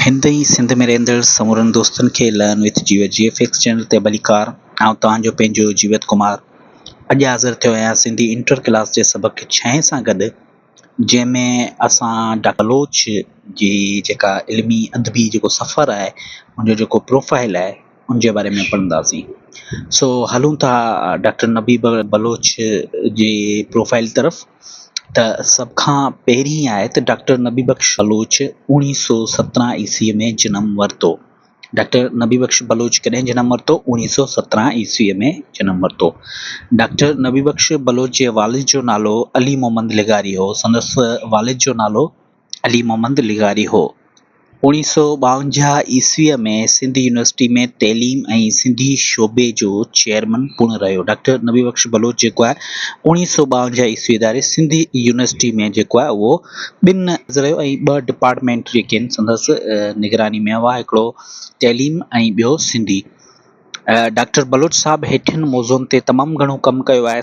هند ۽ سنڌ ۾ رهندڙ سمورن دوستن کي لئن وٿ جيوت جي ايف ايڪس چينل تي ڀليڪار آئون توهان جو پنهنجو جيوت ڪمار اڄ حاضر ٿيو آهيان سنڌي انٽر ڪلاس جي سبق ڇهين سان گڏ جنهن ۾ اسان ڊاڪٽر بلوچ جي جيڪا علمي ادبي جيڪو سفر آهي ان جو جيڪو پروفائل آهي ان جي باري ۾ پڙهنداسين. سو هلون ٿا ڊاڪٽر نبي بلوچ جي پروفائيل طرف ته سڀ کان پهرين آهي ته ڊاڪٽر نبي بخش بلوچ اوڻيهه سو سترهن عيسوي ۾ جنم ورتو. ڊاڪٽر نبي بخش بلوچ ڪڏهن جنم ورتو؟ اوڻيهه سو سترهن عيسوي ۾ جنم ورتو. ڊاڪٽر نبي بخش بلوچ جي والد جو نالو علي محمد لغاري هو. سندس والد جو نالو علي محمد لغاري هو. اوڻيهه سؤ ٻاونجاهه عيسويء ۾ سنڌ يونيورسٽيء ۾ تعليم ۽ سنڌي شعبي جو چيئرمن پڻ رهيو. ڊاڪٽر نبي بخش بلوچ جيڪو آهي اوڻيهه سؤ ٻاونجاهه عيسوي اداري سنڌ يونيورسٽيء ۾ جيڪو آهي اهو ٻن رهيو ۽ ٻه ڊپارٽمينٽ جيڪي آهن سندس نگراني ۾ هئا هڪڙو تعليم ۽ ٻيو سنڌي. ڊاڪٽر بلوچ صاحب هيٺين موضوعن تي تمام گهڻو ڪم ڪيو آهي.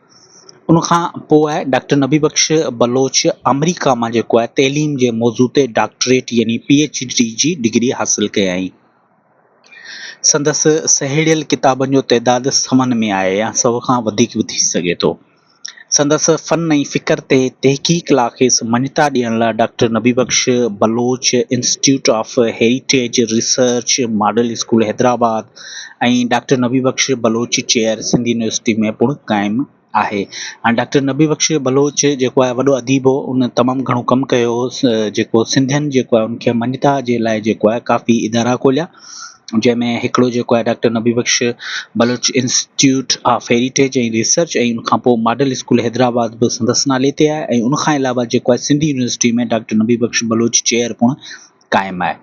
ان کان پوء ڊاڪٽر نبي بخش بلوچ آمريڪا مان جيڪو آهي تعليم جي موضوع تي ڊاڪٽريٽ يعني پي ايڇ ڊي جي ڊگري حاصل ڪيائين. سندس سهيڙيل ڪتابن جو تعداد سون ۾ آهي يا سو کان وڌيڪ به ٿي سگهي ٿو. سندس فن ۽ فڪر تي تحقيق لا کيس مڃتا ڏيڻ لا doctor Nabi Bakhsh Baloch institute of heritage research model school Hyderabad, ۽ doctor Nabi Bakhsh Baloch chair Sindh university ۾ پڻ قائم آهي ۽ ڊاڪٽر نبي بخش بلوچ جيڪو آهي وڏو اديب هو ان تمام گهڻو ڪم ڪيو هو جيڪو سنڌين جيڪو آهي ان کي مڃتا جي لاء جيڪو آهي ڪافي ادارا کوليا جنهن ۾ هڪڙو جيڪو آهي doctor Nabi Bakhsh Baloch institute of heritage ۽ research ۽ ان کان پوء ماڊل اسڪول حيدرآباد به سندس نالي تي آهي ۽ ان کان علاوه جيڪو آهي Sindh university ۾ doctor Nabi Bakhsh Baloch chair پڻ قائم آهي.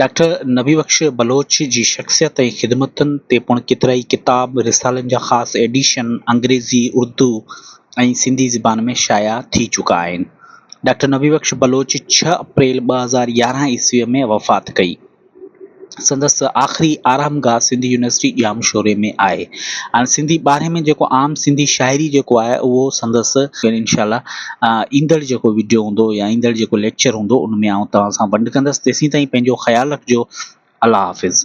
ڊاڪٽر نبي بخش بلوچ جي شخصيت ۽ خدمتن تي پڻ ڪيترائي ڪتاب، رسالن جا خاص ايڊيشن انگريزي، اردو ۽ سنڌي زبان ۾ شايع ٿي چڪا آهن. ڊاڪٽر نبي بخش بلوچ ڇهه اپريل ٻه هزار يارهن عيسويء ۾ وفات ڪئي. سندس آخري آرامگاهه سنڌ يونيورسٽي ڄام شوري ۾ آهي. هاڻ سنڌي ٻارهين ۾ جيڪو عام سنڌي شاعري جيڪو آهي اهو سندس انشاء الله ايندڙ جيڪو وڊيو هوندو يا ايندڙ جيڪو ليڪچر هوندو ان ۾ آئون توهان سان ونڊ ڪندس تيسين تائين پنهنجو خيال رکجو الله حافظ.